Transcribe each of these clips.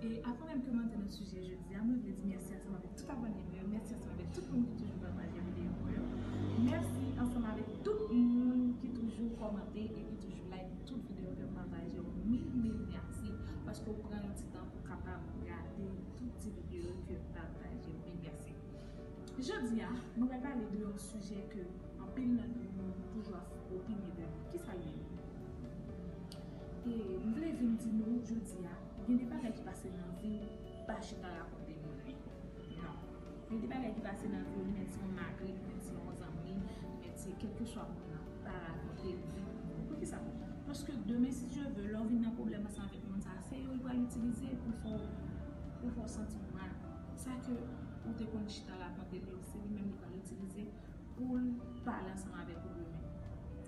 E avan menm ke m antre nan sijè jodi a, mwen vle di mèsi ansanm avèk tout abòne m yo, mèsi ansanm avèk tout moun ki toujou pataje videyo mwen yo, mèsi ansanm avèk tout moun ki toujou kòmante e ki toujou like tout videyo ke m pataje yo, mil mil mèsi paske ou pran yon ti tan pou w kapab gade tout ti videyo ke m pataje yo, mil mèsi. Jodi a, mwen pral pale de yon sijè ke anpil nan nou nou toujou ap opine de li, kisa l ye? E m vle vin di nou jodi a. Gen de bagay ki pase nan viw ou pa chita rakonte moun li nan Gen de bagay ki pase nan viw menm si yon mari menm si yon zanmi menm si kelkeswa moun nan ou pa rakonte li non poukisa paske demen si Dye ve lèw vin nan pwoblèm ansanm avèk moun sa se yo li pral itilize pou fèw pou fèw santiw mal sa ke ou te konn chita rakonte li yo se li menm li pral itilize. poul pale ansanm avèk ou demen.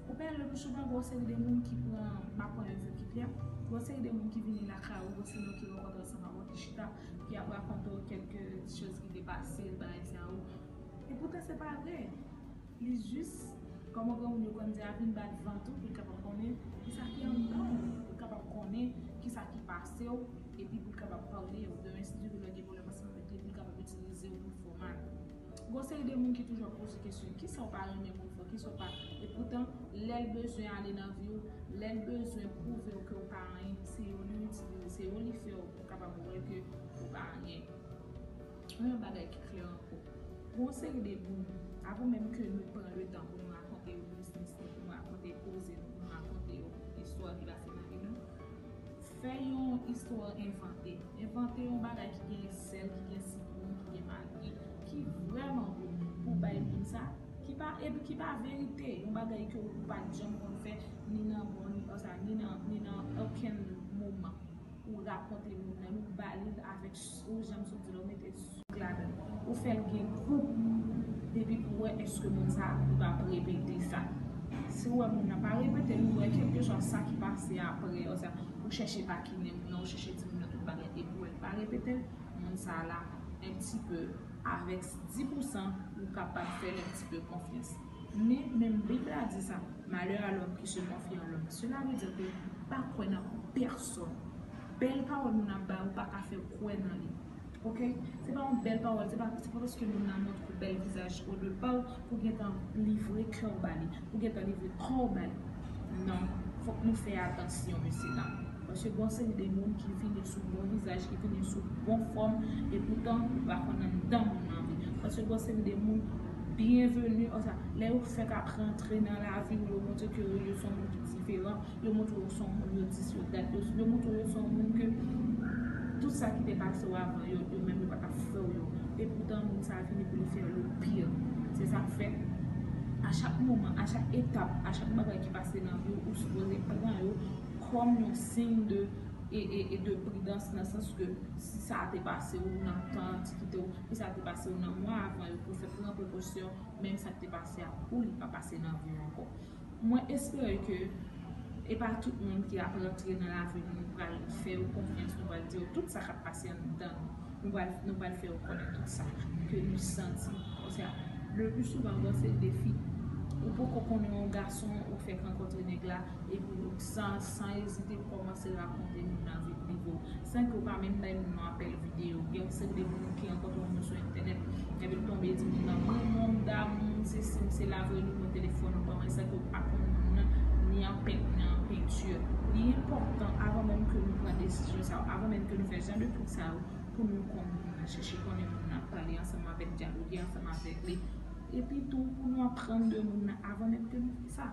Ou pè lè nou souvan gen yon seri de moun ki pran, m pa konnen vye ki tè, gen yon seri de moun ki vini lakay ou osinon ki rankontre w ansanm avèw ki chita, ki ap rakonte w kèlke ti choz ki te pase l bagay sa yo. E poutan se pa vre. Li jis, kòman granmoun yo konn di a, vin bat vant ou pou l kapab konnen ki sa ki anndan w, pou l kapab konnen ki sa ki pase w, epi pou l kapab pale w. Demen si Dieu vle lè w gen pwoblèm ansanm avèk li pou l kapab itilize w pou l fè w mal. Gon seri de moun ki toujou ap poze kesyon kisa ou pa renmen moun fò kisa ou pa e poutan lèl bezwen ale nan viw lèl bezwen pwouvew kew pa anyen se yo li itilize se yo li fèw pou kapab wè ke ou pa anyen men yon bagay ki klè ankò gon seri de moun avan menm ke nou pran letan pou nou rakonte yo biznis nou pou nou rakonte koze nou pou nou rakonte yo istwa ki pase nan vi nou. Fè yon istwa envante. Envante yon bagay ki gen sèl, ki gen sitwon, ki gen magi, ki vrèman gou pou w bay moun sa, ki pa epi ki pa verite, yon bagay ke ou pa t janm konn fè ni nan bon ni nan sa, ni nan okenn moman. Ou rakonte moun nan, ou ba li l avèk. Ou janm sot di la ou mete souk ladan ou fèl gen gou depi pou wè eske moun sa li pap repete sa si ou wè moun nan pa repete li ou wè kelkeswa sa ki pase aprè oswa ou chèche takine moun nan ou chèche di moun nan tout bagay epi ou wè li pa repetel moun sa la un petit peu avèk 10 pousan ou kapab fèl un petit peu konfyans. Men, menm Bib la di sa, Malè a lòm ki se konfye an lòm. Sela vle di ke pa kwè nan pèsòn. Bèl pawòl moun ap bay ou pa ka fè kwè nan li. Ok? Se pa yon bèl pawòl, se pa paske moun nan montre ou bèl vizaj o de pa w pou w gentan livre kè w ba li, pou w gentan livre kò w ba li. Non, fòk nou fè atansyon, mesye dam. Paske gen yon seri de moun ki vini sou bon vizaj, ki vini sou bon fòm, epoutan ou pa konn anndan moun nan vre. Paske gen yon seri de moun. Bienvenue ansa lè yo fèk ap rantre nan laviw yo montre ke yo son moun ki diferan yo montre yo son moun yo dis yo dat yo montre yo son moun ke tout sa ki te pasew avan yo yo menm yo pa tap fèw yo epoutan moun sa vini poul fèw le pire se sak fè a chak moman a chak etap a chak bagay ki pase nan viw ou sipoze pran yo kòm yon sign de e e e de pridans nan sans ke si sa te pasew nan tan an ti kitew. pou sa te pase w nan mwa avan yo pou fè pran prekosyon menm sa k te pase a ou li pa pase nan vi w ankò mwen espere ke e pa tout moun ki ap rantre nan lavi nou nou pral fè yo konfyans nou pral di yo tout sa k ap pase anndan nou nou pral fè yo konnen tout sa ke nou santi paske le pli souvan bon se defi ou poko konnen yon gason ou fèk rankontre nèg la. Epi Rouksan san ezite kòmanse rakonte nou lavi Divo san ke w pa menm bay moun nan apèl videyo. Gen yon seri de moun ou ki rankontre moun sou entènèt epi l tonbe di moun nan m renmen w, m damou w, m sesi m sela voye nimewo telefòn ou ban mwen san ke w pa konn moun nan ni an pent ni an penti. Li enpòtan avan menm ke nou pran desizyon sa yo, avan menm ke nou fè jan de twouk sa yo pou nou konn moun nan, chèche konnen moun nan, pale ansanm avèk, dyaloge ansanm avèk li. Epitou pou nou aprann de moun nan avan menm ke nou fè sa.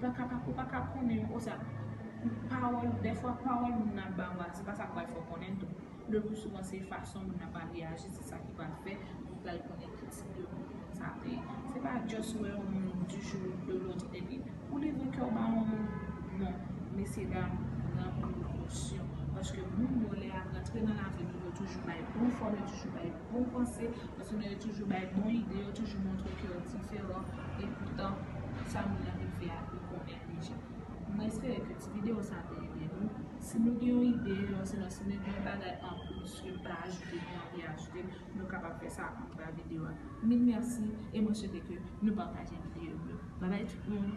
Paka pa ou paka konnen osa pawòl dèfwa pawòl moun nan ap ba ou a se pa sa pral fè w konnen tou le plus souvent se fason moun nan pral reyaji se sa ki pral fè ou pral konnen ki tip de moun sa te ye se pa just wè yon moun du jour ou de l'autre epi ou livre kè w ba yon moun non mesye dam pran prekosyon paske moun yo lè yap rantre nan lavi nou yo toujou bay bon fòm yo toujou bay. bon panse, paske nou yo toujou bay bon ide, yo toujou montre ke yo diferan, e poutan, sa moun nan vin fè a, yo konnen deja. Mwen espere ke ti videyo sa te ede nou. Si nou gen yon ide, osinon si nou gen yon bagay anplis ke nou ta ajoute, nou anvi ajoute, nou kapab fè sa anba videyo a. Mil mèsi, e mwen swete ke nou pataje videyo m yo. Babay tout moun!